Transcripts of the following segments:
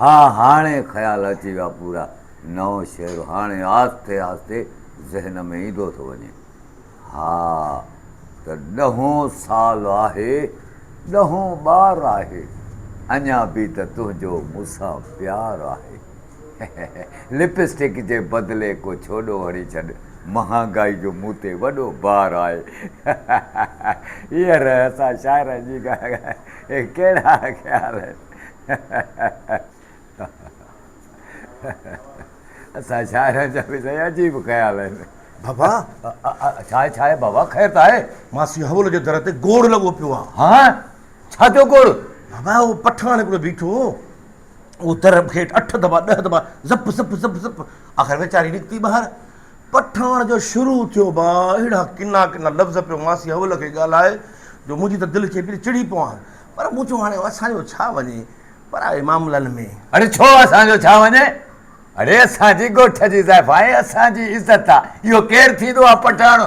ها هاڻي خيال اچي ويا پورا. نئون شعر هاڻي آهستي آهستي ذهن ۾ ايندو ٿو وڃي. ها ته ڏهون سال آهي ڏهون ٻار آهي اڃا به ته تنهنجو مون سان پيار آهي لپسٽڪ جي بدلي ڪو ڇوڏو هڻي ڇڏ مهانگائي جو مون تي وڏو بار آهي هيئر اسان شاعرن جي ڳالهه ڪهڙا خيال آهن. اسان شاعرن جا به سائين عجيب خيال آهن. بابا! ڇا آهي، ڇا آهي بابا، خير ته آهي؟ ماسي حول جي در تي گوڙ لڳو پيو آهي. ها! ڇا ٿيو گوڙ؟ بابا اهو پٺاڻ هڪڙو بيٺو هو، اهو در ڀيٽ اٺ دفعا ڏهه دفعا زپ زپ زپ زپ، آخر ويچاري نڪتي ٻاهر. پٺاڻ جو شروع ٿيو با اهڙا ڪنا ڪنا لفظ پيو ماسي حول کي ڳالهائي جو منهنجي ته دل چئي پئي ته چڙي پوان. پر مون چيو هاڻي اسان جو ڇا وڃي پرائي معاملن ۾. اڙي ڇو اسان جو ڇا وڃي؟ اڙي اسان جي ڳوٺ جي زائفا آهي اسان جي عزت آ اهو ڪير ٿيندو آ پٺاڻ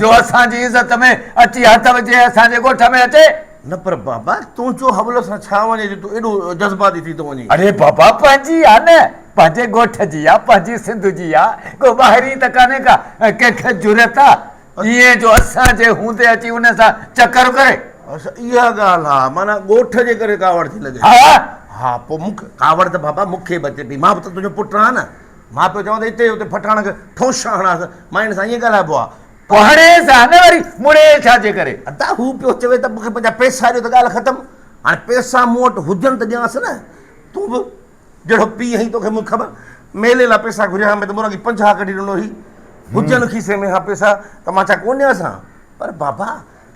جو اسان جي عزت ۾ اچي هٿ وجهي ۽ اسان جي ڳوٺ ۾ اچي. نه پر بابا تون چو حبل اسان ڇا وڃي جو تون ايڏو جذباتي ٿي ٿو وڃي. اڙي بابا پنهنجي آ نه پنهنجي ڳوٺ جي آ پنهنجي سنڌ جي آ ڪو ٻاهرين ته ڪانهي ڪا ڪنهن کي جرئت آ ايئن جو اسان جي هوندي اچي انهن سان چڪر ڪري. اچا اها ڳالهه آ. معنيٰ ڳوٺ جي ڪري ڪاوڙ ٿي لڳين. ها. ها پوء مون کي ڪاوڙ ته بابا مون کي به اچي پئي. مان به ته تنهنجو پٽ آهيان نه. مان پيو چوان ته هتي هتي پٺاڻ کي ٺونشا هڻانس. مائڻ سان ايئن ڳالهائبو آ. پوء هڻيس ها نه وري مڙيئي ڇا جي ڪري. ادا هو پيو چوي ته مون کي پنهنجا پئسا ڏيو ته ڳالهه ختم. هاڻي پئسا مون وٽ هجن ته ڏيانس نه. تون به جهڙو پيء هئين توکي مون کان ميلي لا پيسا گهريا ها مين ته مون اڳي پنجاهه ڪڍي ڏنو هئي هجن کيسي ۾ ها پيسا ته مان ڇا ڪون ڏيانس ها پر بابا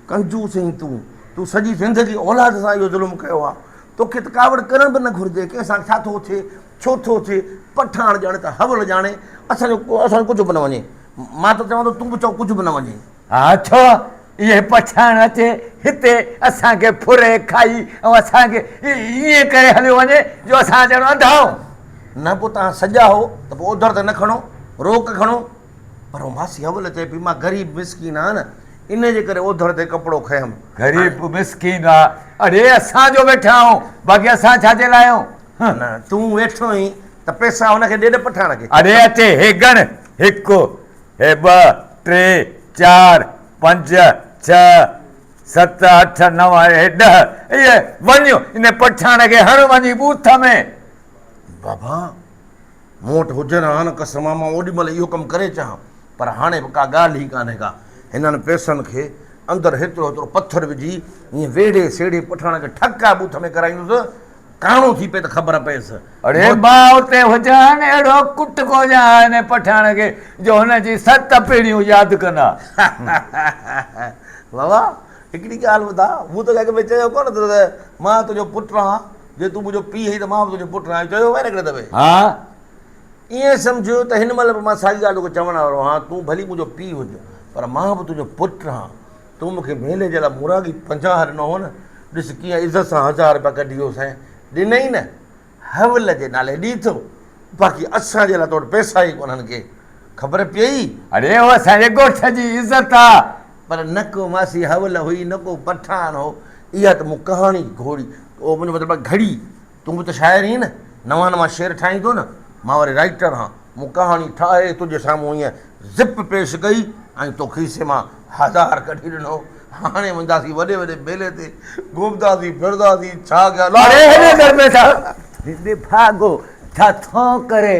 ڪنجوس هئين تون تون سڄي زندگي اولاد سان اهو ظلم ڪيو ها توکي ته ڪاوڙ ڪرڻ به نه گهرجي ڪنهن سان ڇا ٿو ٿئي ڇو ٿو ٿئي پٺاڻ ڄاڻي ته حول ڄاڻي اسان جو اسان جو ڪجهه به نه وڃي مان ته چوان ٿو تون به چئو ڪجهه به نه وڃي ها ڇو اهي پڇائڻ اچي هتي اسان کي ڦري کائي ۽ اسان کي ائين ڪري هليو وڃي جو اسان ڄڻ انڌا هون. نه پوء توهان سڄا هو ته پوء اوڌر ته نه کڻو، روڪ کڻو. پر هو ماسي اول چئي پئي مان غريب مسڪين آهيان نه انهي جي ڪري اوڌر تي ڪپڙو کنيم. غريب مسڪين آ اڙي اسان جو ويٺا آهون باقي اسان ڇا جي لاء آهيون. نه تون ويٺو اهين ته پئسا هن کي ڏي نه پٺاڻ کي. اڙي اچي هي ڳڻ هڪ هي ٻه، ٽي، چار، پنج، ڇهه، ست، اٺ، نو ۽ هي ڏهه. اي وڃ ان پٺياڻ کي هڻ وڃي بوٿ ۾. بابا! مون وٽ هجن ها نه قسم ها مان اوڏي مهل اهو ڪم ڪري چاهان پر هاڻي به ڪا ڳالهه ئي ڪانهي ڪا. هنن پئسن کي اندر هيترو هيترو پٿر وجهي ائين ويڙهي سيڙهي پٺاڻ کي ٺڪ آهي بوٿ ۾ ڪرائيندس. ڪاڻو ٿي پئي ته خبر پئيس. اڙي ڀاء اتي هجان اهڙو ڪٽ ڪوجان ها انهي پٺاڻ کي جو هن جي ست پيڙهيون ياد ڪن ها. بابا هڪڙي ڳالهه ٻڌاء مون توکي اڳ ۾ چيو ڪونه ته مان تنهنجو پٽ آهيان جي تون منهنجو پيء آهين ته مان به تنهنجو پٽ آهيان اهو چيو هئائين نه هڪڙي دفعي. ها. ائين سمجهه ته هن مهل به مان ساڳي ڳالهه توکي چوڻ وارو آهيان تون ڀلي منهنجو پيء هج پر مان به تنهنجو پٽ آهيان. تون مون کي مھيني جي لاء مورڳي پنجاهه ڏنو هو نه، ڏس ڪيئن عزت سان هزار رپيا ڪڍي ويو سائين، ڏنئي نه، حول جي نالي ڏي ٿو، باقي اسان جي لاء تو وٽ پئسا ئي ڪونهن ڪي خبر پيئي؟ اڙي اهو اسان جي ڳوٺ جي عزت آ، پر نه ڪو ماسي حول هئي نه ڪو پٺاڻ هو، اها ته مون ڪهاڻي گهوڙي، مطلب گهڙي. تون به ته شاعر هين نه، نوان نوان شعر ٺاهين ٿو نه، مان وري رائيٽر هان، مون ڪهاڻي ٺاهي تنهنجي سامهون هينئن زپ پيش ڪئي ۽ تو کيسي مان هزار ڪڍي ڏنو، هاڻي وينداسين وڏي وڏي ميلي تي، گهمنداسين ڦرنداسين، ڇا ڪيا لاء ڪيا. اڙي هيڏي درپيسا ڀاڳو ڇا ٿو ڪري.